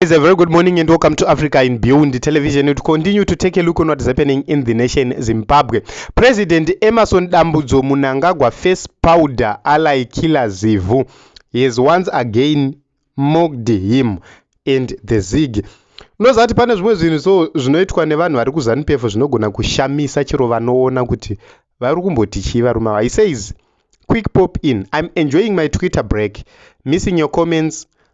It's a very good morning and welcome to Africa in Beyond Television. We continue to take a look on what's happening in the nation Zimbabwe. President Emerson Dambudzo Munangagwa face powder ally killer Zivu. He has once again mocked him and the Zig. Unoziva kuti pane zvimwe zvinhu so zvinoitwa nevanhu vari kuZanupf zvinogona kushamisa chero vanoona kuti vari kumboti chii varume ava. He says, quick pop in. I'm enjoying my Twitter break. Missing your comments.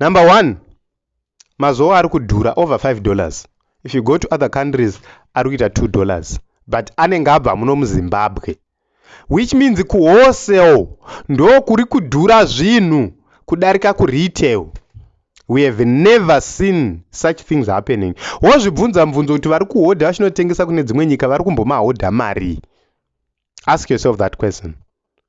number one mazowa ari kudhura over 5 dollars if you go to other countries ari kuita 2 dollars but anenge abva muno muzimbabwe which means kuwholesale ndo kuri kudhura zvinhu kudarika kuretail we have never seen such things happening wozvibvunza mubvunzo kuti vari kuhodha vachinotengesa kune dzimwe nyika vari kumbomahodha marii ask yourself that question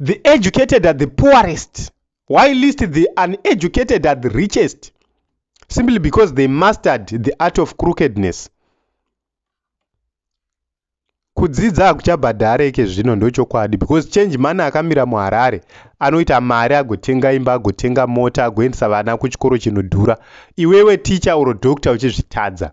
the educated are the poorest why list the uneducated are the richest simply because they mastered the art of crookedness kudzidza hakuchabhadhareke zvino ndochokwadi because change mani akamira muharare anoita mari agotenga imba agotenga mota agoendesa vana kuchikoro chinodhura iwewe ticha uro doctor uchizvitadza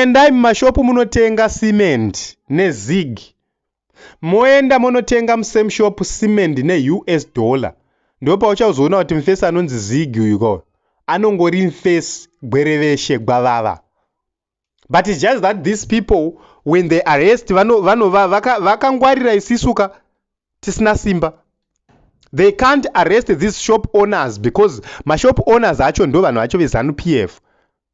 Endai mumashop munotenga cement ne zig moenda monotenga mu same shop cement ne us dollar ndopauchazoona kuti mfesi anonzi zig uyu ko anongori mfesi gwereveshe gwavava but it's just that these people when they arrest vanova vano, vaka, vakangwarira isisu ka tisina simba they can't arrest these shop owners because mashop owners acho ndo vanhu vacho vezanu pf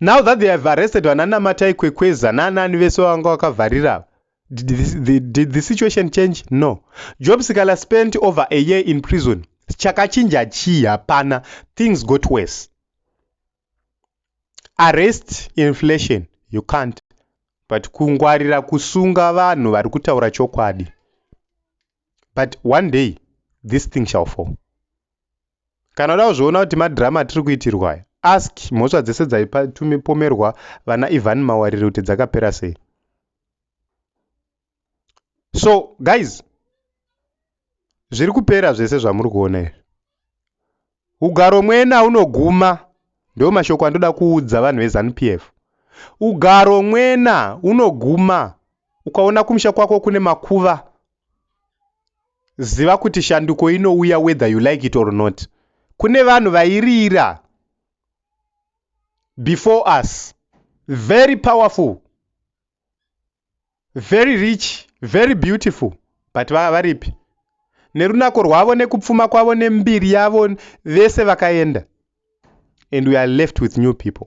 Now that they have arrested vana Namatai Kwekweza naanani vese vavanga vakavharira ava, did the, the, did the situation change? No. Job Sikala spent over a year in prison. Chakachinja chii? Hapana. Things got worse. Arrest inflation, you can't. But kungwarira kusunga vanhu vari kutaura chokwadi. But one day, this thing shall fall. Kana uda kuzviona kuti madrama atiri kuitirwa aya, ask mhosva dzese dzaitumipomerwa vana Ivan Mawarire kuti dzakapera sei. So guys, zviri kupera zvese zvamuri kuona izvi. Ugaro mwena unoguma, ndiwo mashoko andoda kuudza vanhu veZanu PF. Ugaro mwena unoguma, ukaona kumusha kwako kune makuva ziva kuti shanduko inouya whether you like it or not kune vanhu vairira before us very powerful very rich very beautiful but vava varipi nerunako rwavo nekupfuma kwavo nembiri yavo vese vakaenda and we are left with new people